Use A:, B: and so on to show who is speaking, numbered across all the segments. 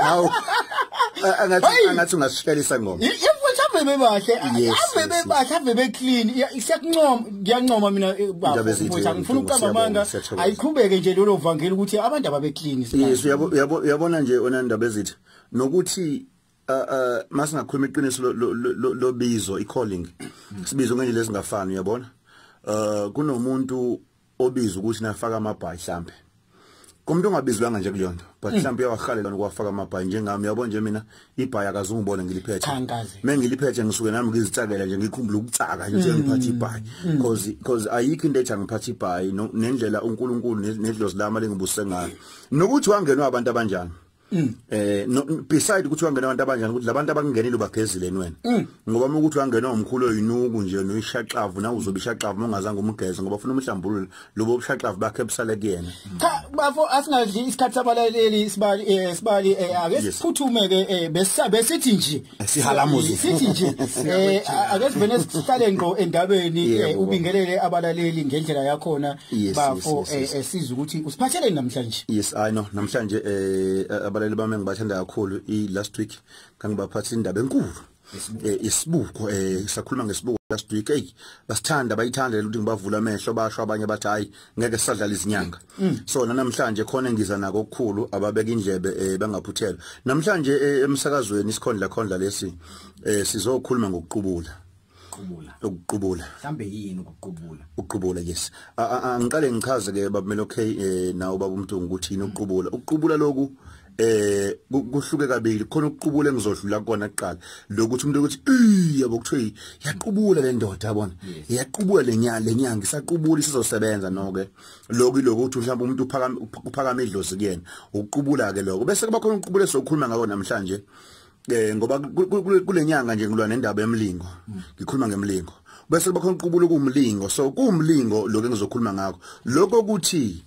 A: Hawu. Angathi angathi ungasishelisa ngoma. Yefuthu abebe bahle.
B: Abebe bahle, abebe clean. Siyakuncoma, ngiyancoma mina eh, baba. Ngifuna ukuqamba amanga. Ayiqhubeke nje lelo vangeli ukuthi abantu ababe clean. Yes, uyabo
A: uyabona nje ona ndaba ezithi nokuthi uh uh masingakhuluma iqiniso lobizo i calling sibizo ngendlela ezingafani uyabona uh kunomuntu obiza ukuthi nafaka amabhayi mhlambe komuntu ongabizwanga nje kuleyonto but hmm. mhlambe uyawahalela ukuwafaka amabhayi njengami yabo nje mina ibhayi akazungibone ngiliphethe mengiliphethe ngisuke nami ngizitsakela nje ngikhumbula ukutsaka nje hmm. ngiphatha ibhayi because hmm. because ayikho into ethi angiphatha ibhayi nendlela uNkulunkulu nedlozi lami lengibuse ngayo nokuthi wangenwa abantu abanjani Mm. eh no, beside ukuthi wangena abantu abanjani ukuthi labantu abangenile ubagezile wena mm. ngoba uma ukuthi wangena umkhulu oyinuku nje noyishaqavu na uzobe ishaqavu ongazange umgeze ngoba ufuna umhlambululo lobo ubushaqavu bakhe busale kuyena cha bafo
B: asingadli isikhathi sabalaleli isibali eh, isibali eh, ake siphuthume ke eh, besithi nje sihalamuzi sithi
A: nje
B: eh, akezivene sihlale ngqo endabeni eh, ubingelele abalaleli ngendlela yakhona bafo eh, esiza ukuthi usiphatheleni namhlanje yes i know namhlanje
A: eh abalaleli bami ngibathanda kakhulu i last week ngangibaphatha indaba enkulu isibuko eh, eh sakhuluma ngesibuko last week hey basithanda bayithanda ukuthi ngibavula amehlo basho abanye bathi hayi ngeke sisadlala izinyanga mm. so namhlanje khona engiza nako okukhulu ababeka indlebe eh, bangaphuthela namhlanje eh, emsakazweni isikhondla khondla lesi eh, sizokhuluma ngokuqubula ukuqubula ukuqubula mhlambe yini
B: ukuqubula ukuqubula
A: yes angiqale ngichaze ke babumelo okay eh, nawo babumntungu ukuthi yini ukuqubula ukuqubula lokhu eh kuhluke kabili khona ukuqubula engizodlula kona kuqala lokuthi umuntu ukuthi yabo kuthiwa yaqubula le ndoda yabona yaqubula lenyanga lenyanga isaqubula isizosebenza noke lokho iloko ukuthi mhlawumbe umuntu uphakama uphakama idlozi kuyena uqubula ke lokho bese kuba khona ukuqubula sokhuluma ngako namhlanje eh ngoba kulenyanga nje ngilwa nendaba yemlingo mm. ngikhuluma ngemlingo bese kuba khona ukuqubula kumlingo so kumlingo lokho engizokhuluma ngakho lokho ukuthi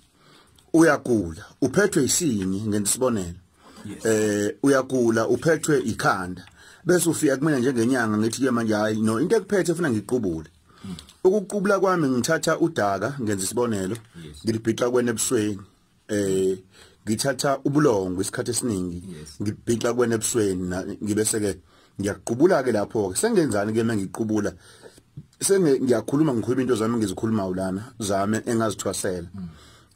A: uyagula uphethwe isini ngentisibonelo eh uyagula uphethwe ikhanda bese ufika kumina njengenyanga ngithi ke manje hayi no into ekuphethe ufuna ngiqubule mm. ukuqubula kwami ngithatha udaka ngenza isibonelo ngilibhixa kwena ebusweni eh ngithatha ubulongo isikhathi esiningi ngibhixa kwena ebusweni ngibese ke ngiyaqubula ke lapho ke sengenzani ke mengiqubula senge ngiyakhuluma ngikhuluma into zami ngizikhuluma ulana zame engazithwasela mm.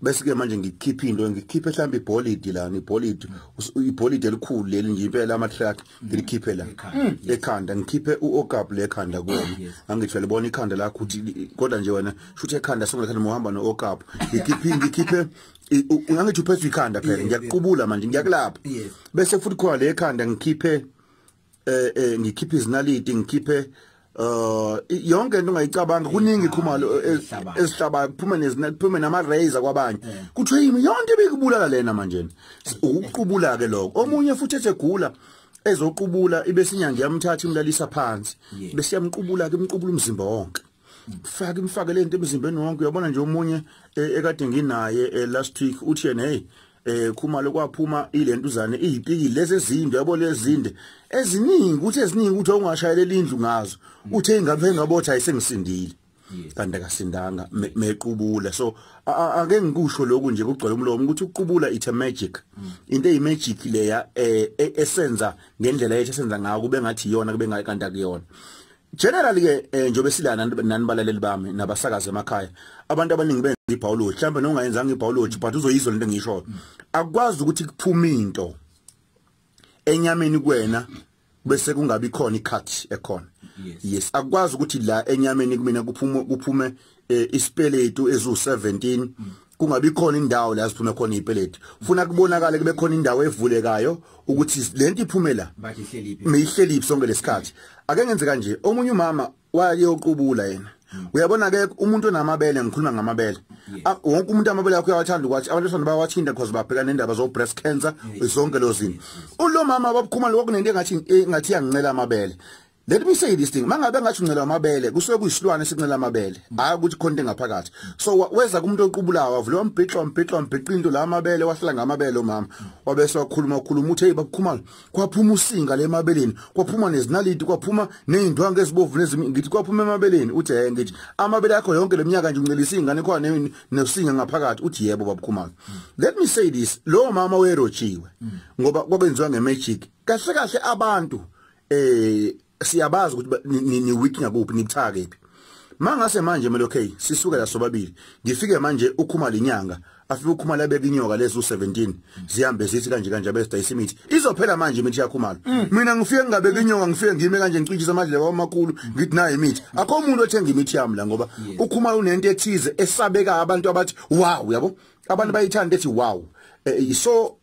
A: bese ke manje ngikhipha into ngikhiphe mhlawumbe ibholidi la ibholidi ibholidi elikhulu leli nje impela ama track ngilikhiphe la ekhanda ngikhiphe uokap le ekhanda kuwe angithe libona ikhanda lakho ukuthi kodwa nje wena shuthi ekhanda songathanda muhamba nookap ngikhiphe ngikhiphe ungangithi uphethe ikhanda phela ngiyaqubula manje ngiyakulapha bese futhi khona le ekhanda ngikhiphe eh eh ngikhiphe izinaliti ngikhiphe uh yonke into ongayicabanga kuningi khumalo esihlaba kuphume nezina kuphume nama razor kwabanye eh. kuthiwa yimi yonke bikubulala lena manje ukuqubula ke lokho omunye futhi esegula ezoqubula ibe sinyanga yamthatha imlalisa phansi bese yamqubula ke imqubula umzimba wonke faka imfake lento emzimbeni wonke uyabona nje omunye eh, ekade nginaye eh, last week uthi yena hey eh khuma lokwaphuma ilento uzane izipiki lezi ezinde yabo lezinde eziningi ukuthi eziningi ukuthi ongashayeleli indlu ngazo uthe ingane engabotha ayisengisindile kanti akasindanga mequbula so ake ngikusho lokhu nje kugcwele umlomo ukuthi uqubula it's a magic mm. into eyi magic leya eh, e, esenza ngendlela yethu esenza ngayo kube ngathi iyona kube ngayi kanti akuyona Generally ke eh, njobe silana nani balaleli bami nabasakaza emakhaya abantu abaningi benza ibhawoloji mhlawumbe nongayenzanga ibhawoloji but uzoyizwa lento engishoyo akwazi ukuthi kuphume into enyameni kuwena bese kungabi khona icut ekhona yes akwazi ukuthi la enyameni kumina kuphume kuphume eh, isipeletu ezu17 kungabi khona indawo la siphume khona ipeleti ufuna kubonakala kube khona indawo evulekayo ukuthi lento iphumela mihlelephi sonke lesikhathi ake ngenze kanje omunye umama wayeyoqubula yena hmm. uyabona ke umuntu onamabele ngikhuluma ngamabele ah, wonke umuntu amabele yakho uyawathanda ukuthi abantu besana bawathinta because babheka nendaba zo breast cancer zonke lozini ulomama babukhuma lokho kunento engathi engathi yangincela amabele Let me say this thing mangabe ngathi uncela amabele kusuke kuyisilwane sincela amabele hayi ukuthi khonto engaphakathi so weza kumuntu oqubulawa wavula umbhixo umbhixo umbhixo into la amabele wahlala ngamabele umama wabese wakhuluma ukhuluma uthe bakukhumala kwaphuma usinga lemabeleni kwaphuma nezinaliti kwaphuma nezindwange ezibovu nezimi ngithi kwaphuma emabeleni uthi hey ngithi amabele akho yonke leminyaka nje uncelisa ingane khona nesinga ngaphakathi uthi yebo babukhumala let me say this lo mama werojiwe ngoba kwabenziwa ngemagic kahle kahle abantu eh siyabazi ukuthi ni weak ngakuphi nibuthake phi mangase manje melo okay sisuke la sobabili ngifike manje ukhuma linyanga afike ukhuma labe kinyoka lezi u17 zihambe zithi kanje kanje abesta isimithi izophela manje imithi yakhumala mm. mina ngifike ngingabe kinyoka ngifike ngime kanje ngicishisa amadlebe amakhulu ngithi nayo imithi akho umuntu othenga imithi yami la ngoba ukhuma unento ethize esabeka abantu abathi wow yabo abantu bayithanda ethi wow eh, so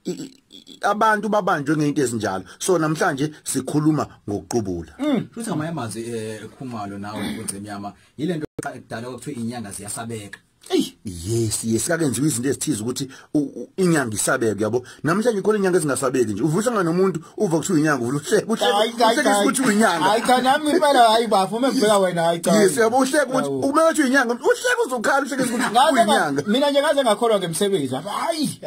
A: abantu babanjwe ngeinto ezinjalo so namhlanje sikhuluma ngokuqubula mm. futhi ngamanye amazwi
C: ekhumalo eh, nawe kunzimyama yilento ekudala okuthiwa inyanga ziyasabeka Ey yes
A: yes kakenziwa izinto ezithiza ukuthi inyanga isabeke yabo namhlanje khona inyanga ezingasabeki nje uvusa ngani umuntu uva kuthiwa inyanga uvusa kuhleka ukuthi uyinyanga hayi cha nami impela
B: hayi bafo uma ngibheka wena hayi cha yes yabo uhleka ukuthi
A: uma uthi uyinyanga uhleka uzokhala uhleka ukuthi uyinyanga mina nje ngaze ngakholwa
B: ngemsebenzi hayi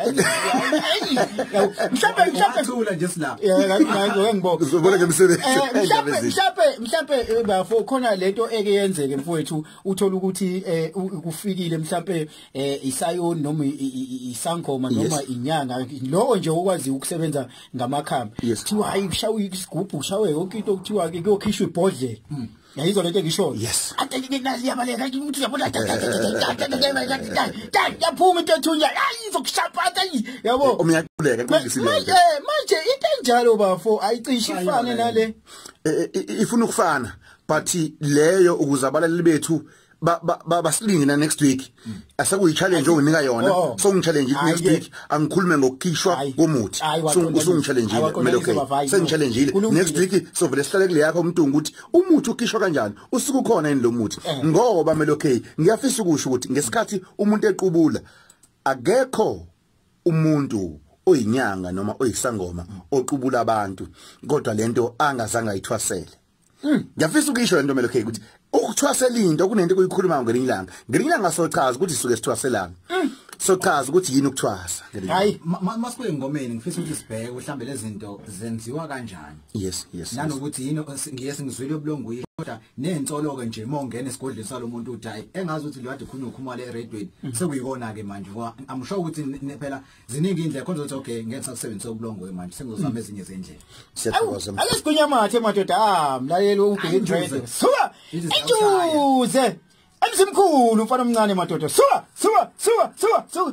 B: mhlawumbe mhlawumbe thula nje sila
C: yeka ngeke ngibonge
B: uzobona ngemsebenzi eh,
A: mhlawumbe
B: mhlawumbe mhlawumbe eh, bafo khona lento eke yenzeke mfowethu uthola ukuthi eh, kufikile mhlawumbe eh isayoni noma isangoma noma inyanga lowo nje okwazi ukusebenza ngamakhamba kuthiwa hayi kushawa isigubhu kushawe yonke into okuthiwa ke kuyokhishwa ibhodlela hmm. yayizo lento engishoyo yes ade ngike nazi yabaleka ukuthi yabona yaphuma into ethunya ayizokushaphatha yabo umyakuleka kungisileyo
A: manje
B: manje into enjalo bafo ayicishi ifane nale ifuna
A: ukufana but leyo ukuzabalali bethu basilinge na next week mm. asekuyi challenge onginika yona oh, oh. so ngi challenge next week angikhulume ngokukhishwa komuthi so usungi challenge kumele okay sengi challenge next week so vele sihlale kule yakho umntungu ukuthi umuthi ukhishwa kanjani usuku ukhona yini lo muthi eh. ngoba mele okay ngiyafisa ukusho ukuthi ngesikhathi umuntu equbula akekho umuntu oyinyanga noma oyisangoma oqubula abantu kodwa lento angazange ayithwasele Hmm, ngiyafisa ukuyisho lento melo K ukuthi ukuthwasela into kunento kuyikhuluma ngelinye ilanga. Ngelinye ilanga sochaza ukuthi suke sithwaselana. Hmm. Sochaza ukuthi yini ukuthwasa. Hayi
C: masibuye engomeni ngifisa ukuthi sibheke mhlambe lezinto zenziwa kanjani. Yes, yes. Nanokuthi
A: yini
C: ngiye singizwile ubulongu kodwa nensolo ke nje mongena esigodleni salomuntu uthi hayi engazi ukuthi lo kade khulunywa ukhumale eradweni hmm. sekuyikona ke manje ngoba amusho ukuthi phela ziningi indlela khona ukuthi okay ngeke sakusebenzisa ubulongo manje sengizozama hmm. ezinye zendlela siyathokoza ake
A: sigwinya mathe
B: madoda ah mlaleli ubheke dread suka injuze emsimkhulu mfana omncane madoda suka suka suka suka suka